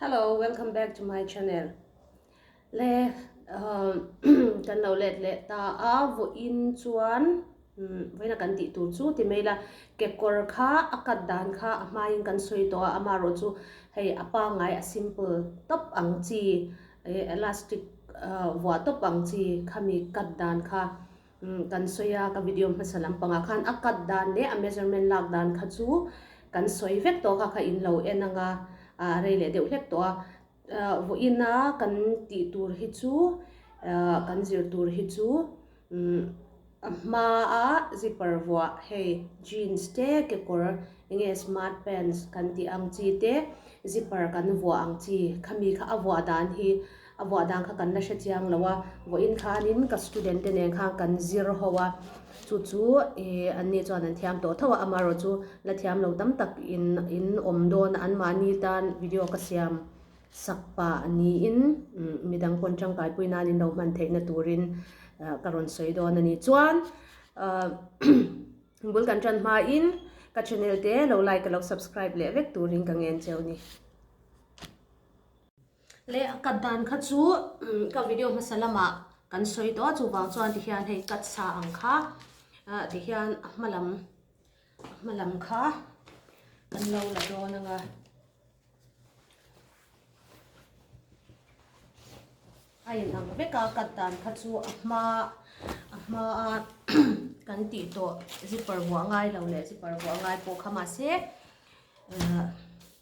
Hello welcome back to my channel le umm kan lo let leh ta a vawiin chuan umm vawiina kan tih tur chu ti mai la kekawr kha a cut dan kha a hmaiin kan sawi tawh a ama erawh chu hei a pangai a simple tawp ang chi elastic vuah tawp ang chi khami cut dan kha Kan sawi a, ka video hmasa lampangah khan a cut dan leh a measurement lak dan kha chu kan sawi vek tawh kha kha in lo en anga a rei leh deuh hlek tawh a. Vawiina kan tih tur hi chu kan zir tur hi chu a hmaa zipper vuah hei jeans te kekawr enge smart pants kan tih ang chi te zipper kan vuah ang chi khami kha a vuah dan hi A vuah dan kha kan la hre chiang lo a, vuah in kha anin ka student te nen khan kan zir ho a, chu chu ih an ni chuan an thiam tawh tho a, amaherawh chu la thiam lo tam tak in in awm dawn a, anmahni tan video ka siam sak pah niin midang pawn tangkai pui nan in lo hman theihna turin ka rawn sawi dawn a ni chuan bul kan tan hma in ka channel te lo like leh subscribe leh vek turin ka ngen cheu ni. Leh a cut dan kha chu ka video hmasa lamah kan sawi tawh a chuvang chuan tihian hei cut sa ang kha tihian a hma lam a hma lam kha kan lo la dawn anga a in ang vek a cut dan kha chu a hma a hma a kan tih tawh zipper vuah ngai lo leh zipper vuah ngai pawh kha mahse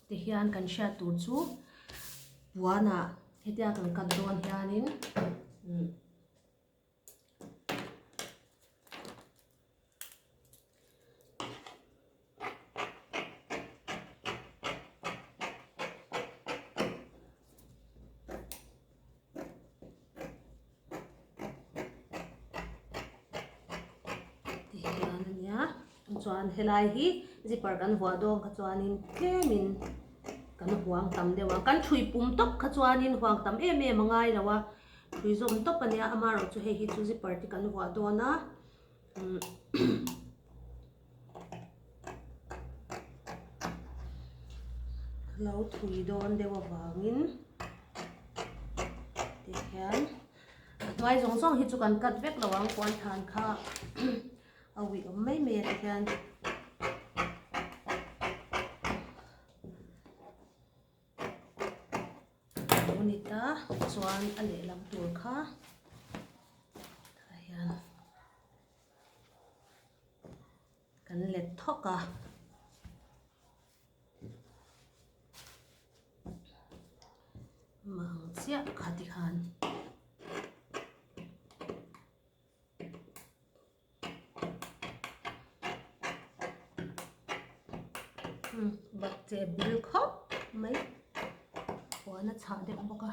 Tihian kan hriat tur chu puana hetia kan cut dawn hianin Tih hian a nia chuan helai hi zipper kan vuah dawn kha chuanin tlemin kan huang tam deuh a kan thui pum tawp kha chuanin huang tam em em a ngai lo a thui zawm tawp a nia amaherawhchu hei hi chu zipper te kan vuah dawn a umm-- Lo thui dawn deuh avangin tikhian a hnuai zawng zawng hi chu kan cut vek lo ang puan than kha a uiawm mai mai a tikhian alo ni ta chuan a lehlam tur kha tah hian. Kan let thawk a. Mah ang chiah kha ti khan. Bakcheh bil khawp mai. Puan a chhah deuh bawk a.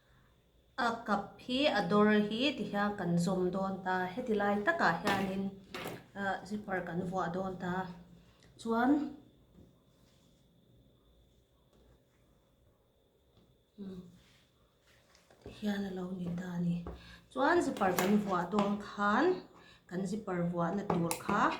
A kap hi a dawr hi ti hian kan zawm dawn ta heti lai takah hianin ahh zipper kan vuah dawn ta chuan umm tih hian a lo ni ta a ni chuan zipper kan vuah dawn khan kan zipper vuahna tur kha--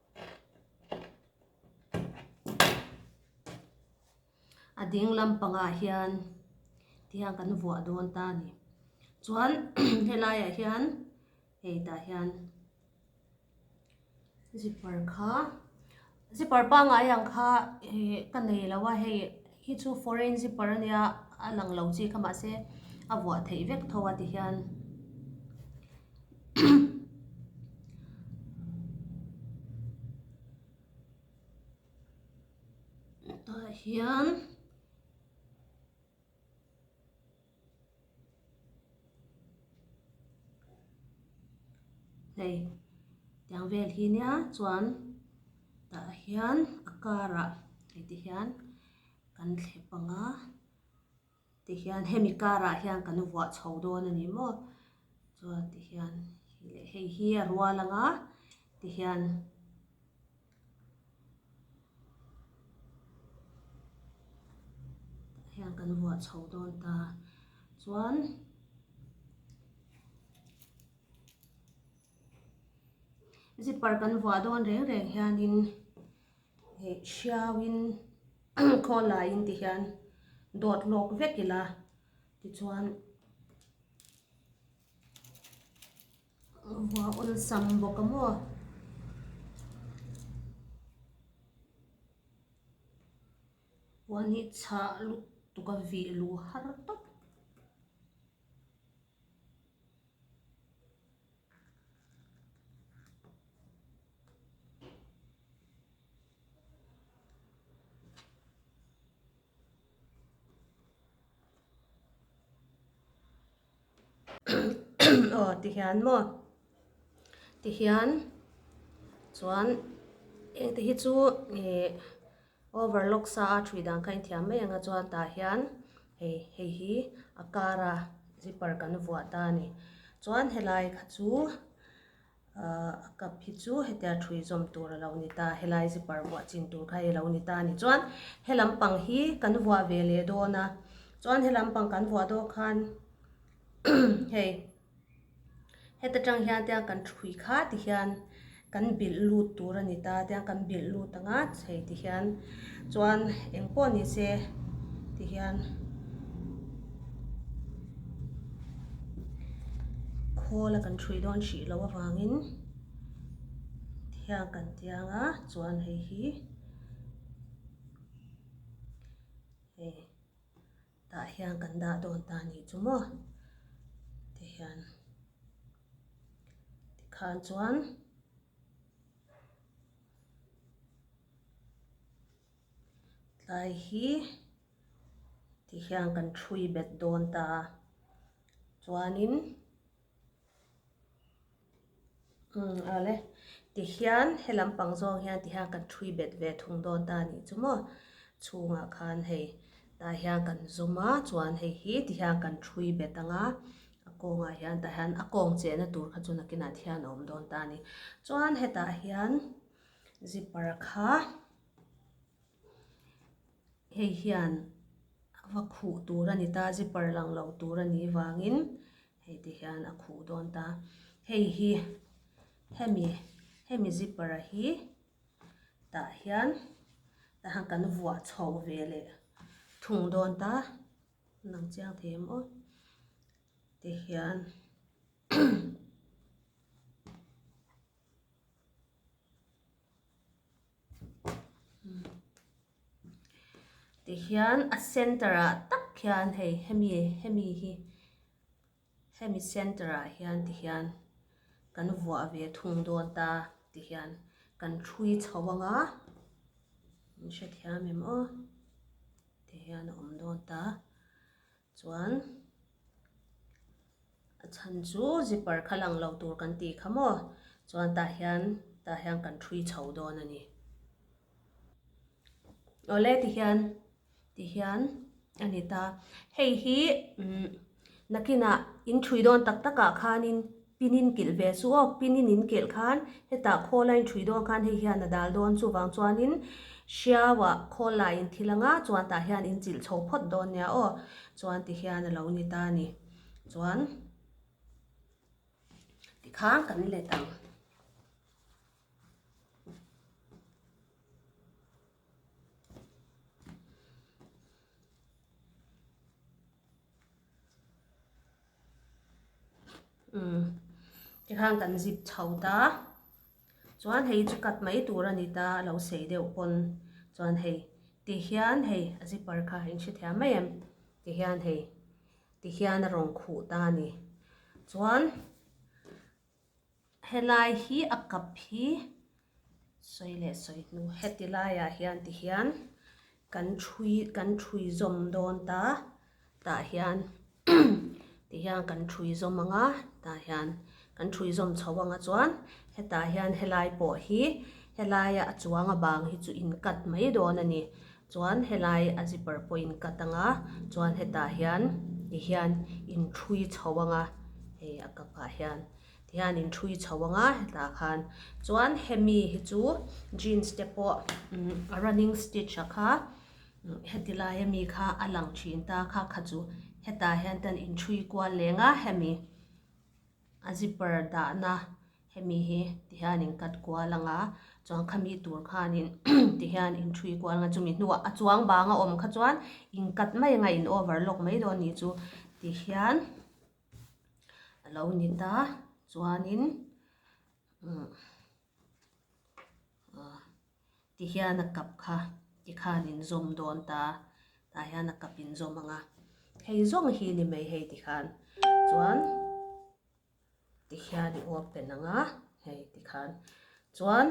a ding lam pangah hian ti hian kan vuah dawn ta a ni chuan he laiah hian hei tah hian zipper kha zipper pangngai ang kha ihh ka nei lo a hei-- Hi chu foreign zipper a nia a lang lo chi kha mah se a vuah theih vek tho a ti hian tah hian. Hei tiang vel hi nia chuan tah hian a karah hei te hian kan thle pang a ti hian hemi karah hian kan vuah chho dawn a ni maw chuan ti hian leh hei hi a rual ang a ti hian-- hian kan huah chho dawn ta chuan zipper kan vuah dawn reng reng hian in ih hriau in khawl lai in ti hian dawt hlawk vek ila tichuan. Hua awn sam bawk a maw? Hua ni chah lut tuk a vih lu har tawp. Aw ti hian maw? ti hian chuan hengte hi chu ih overlock sa a ṭhi dan kha a inthiam mai anga chuan tah hian hei hei hi a kara zipper kan vuah ta a ni chuan helai kha chu-- A kap hi chu hetiang a thui zawm tur a lo ni ta, helai zipper vuah chin tur kha i lo ni ta a ni chuan he lampang hi kan vuah ve leh dawn a, chuan he lampang kan vuah dawn khan hei heta tang hian tiang kan thui kha ti hian kan bilh lut tur a ni ta, tiang kan bilh lut ang a chei ti hian. Chuan eng pawh ni se ti hian khawl a kan hrui dawn hrih loh avangin ti hian kan ti ang a, chuan hei hi hei tah hian kan dah dawn ta a nih chu maw ti hian tikhan chuan. Tlai hi ti hian kan thui bet dawn ta a, chuanin umm a le ti hian he lam pang zawk hian ti hian kan thui bet ve thung dawn ta a nih chu maw? Chhungah khan hei tah hian kan zawm a chuan hei hi ti hian kan thui bet ang a, a kawngah hian tah hian a kawng chehna tur kha chu nakin ah hian a awm dawn ta a ni. Chuan hetah hian-- Zipper kha hei hian a va khuh tur a ni ta, zipper lang lo tur a nih vangin hei te hian a khuh dawn ta. Hei hi hemi hemi zipper a hi tah hian tah kan vuah chho ve leh thung dawn ta a lang chiang thei a maw te hian. Tihian a center ah tak hian hei hemi hemi hi hemi center ah hian tihian kan vuah ve thung dawn ta tihian kan hrui chho ang a min hre thiam em aw tihian a awm dawn ta. Chuan a chhan chu zipper kha lang lo tur kan ti kha maw? Chuan tah hian tah hian kan thui chho dawn a ni. Awle ti hian ti hian a ni ta. Hei hi nakinah in thui dawn tak takah khanin. Pinin kilh ve chu awk, pinin in kilh khan hetah khawla in thui dawn khan hei hian a dal dawn, chuvang chuanin hriaua khawl la in thil anga chuan tah hian in chilh chho phawt dawn nia aw chuan ti hian a lo ni ta a ni. Chuan ti khan kan let ang. umm tikhan kan zip chho ta chuan hei chu cut mai tur a ni ta a lo sei deuh pawn chuan hei tihian hei a zipper kha in hrethia mai em tihian hei tihian a rawn khuh ta a ni chuan-- Helai hi a kap hi sawi leh sawi hnu heti laiah hian ti hian kan thui kan thui zawm dawn ta tah hian ti hian kan thui zawm ang a tah hian kan thui zawm chho ang a chuan hetah hian helai pawh hi helaia a chuang a bang hi chu in cut mai dawn a ni chuan helai a zipper pawh in cut ang a chuan hetah hian ti hian in thui chho ang a hei a kapah hian. Tihian in thui chho ang a, hetah khan. Chuan hemi hi chu jeans te pawh running stitch a kha heti laia mi kha a lang thin ta. Kha kha chu hetah hian ten in thui kual leng a hemi a zipper dahna hemi hi tihian in cut kual ang a. Chuan khami tur khan in tihian in thui kual ang a. Chumi hnua a chuang bang a awm kha chuan in cut mai anga in overlock mai dawn nih chu tihian. a lo ni ta chuanin ti hian a kap kha ti khan in zawm dawn ta tah hian a kap in zawm ang a hei zawng hi ni mai hei ti khan chuan ti hian i open ang a hei ti khan chuan.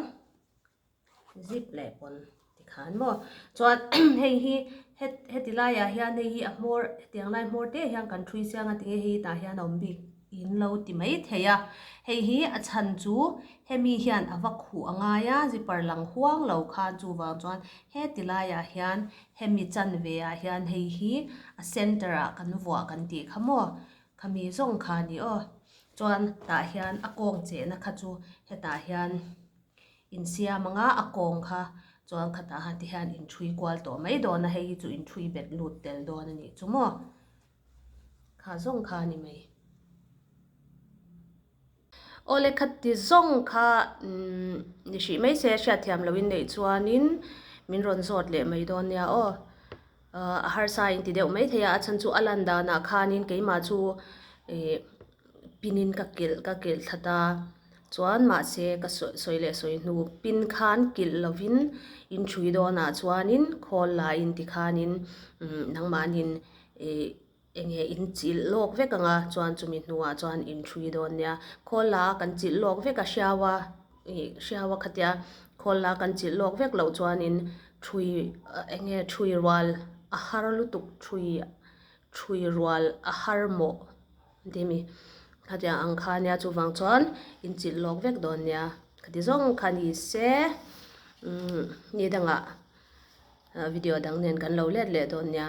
Zip leh pawn ti kha an maw? Chuan hei hi heti laiah hian hei hi a hmawr hetiang lai hmawr te hian kan thui siang a tinge hei tah hian a awm bik in lo ti mai thei a. Hei hi a chhan chu hemi hian a va khuh a ngai a zipper lang huang lo kha chuvang chuan heti laiah hian hemi chanve ah hian hei hi a center ah kan vuah kan tih kha maw? Khami zawng kha ni aw. Chuan tah hian a kawng chehna kha chu hetah hian Insiam anga a kawng kha chuan khata han te hian in thui kual tawh mai dawn a, hei hi chu in thui bet lut tel dawn a nih chu maw? Kha zawng kha a ni mai. Aw le khat ti zawng kha umm ni hrih mai se a hriat thiam lo in neih chuan in min rawn zawt leh mai dawn nia aw. A harsa a inti deuh mai thei a, a chhan chu a lan danah khanin keimah chu ih pinin ka kilh ka kilh that a, chuan mahse ka sawi sawi leh sawi hnu pin khan kilh lovin in hrui dawnah chuanin khawl la inti khanin umm nangmahnin ih-- Eng nge in chilh lawk vek ang a chuan chumi hnuah chuan in hrui dawn nia khawl la kan chilh lawk vek a hriaua hriaua khatia khawl la kan chilh lawk vek loh chuanin hrui eng nge hrui rual a har lutuk hrui hrui rual a har mawh timi khatia ang kha nia chuvang chuan in chilh lawk vek dawn nia khati zawng kha ni se umm ni dangah video dang nen kan lo let leh dawn nia.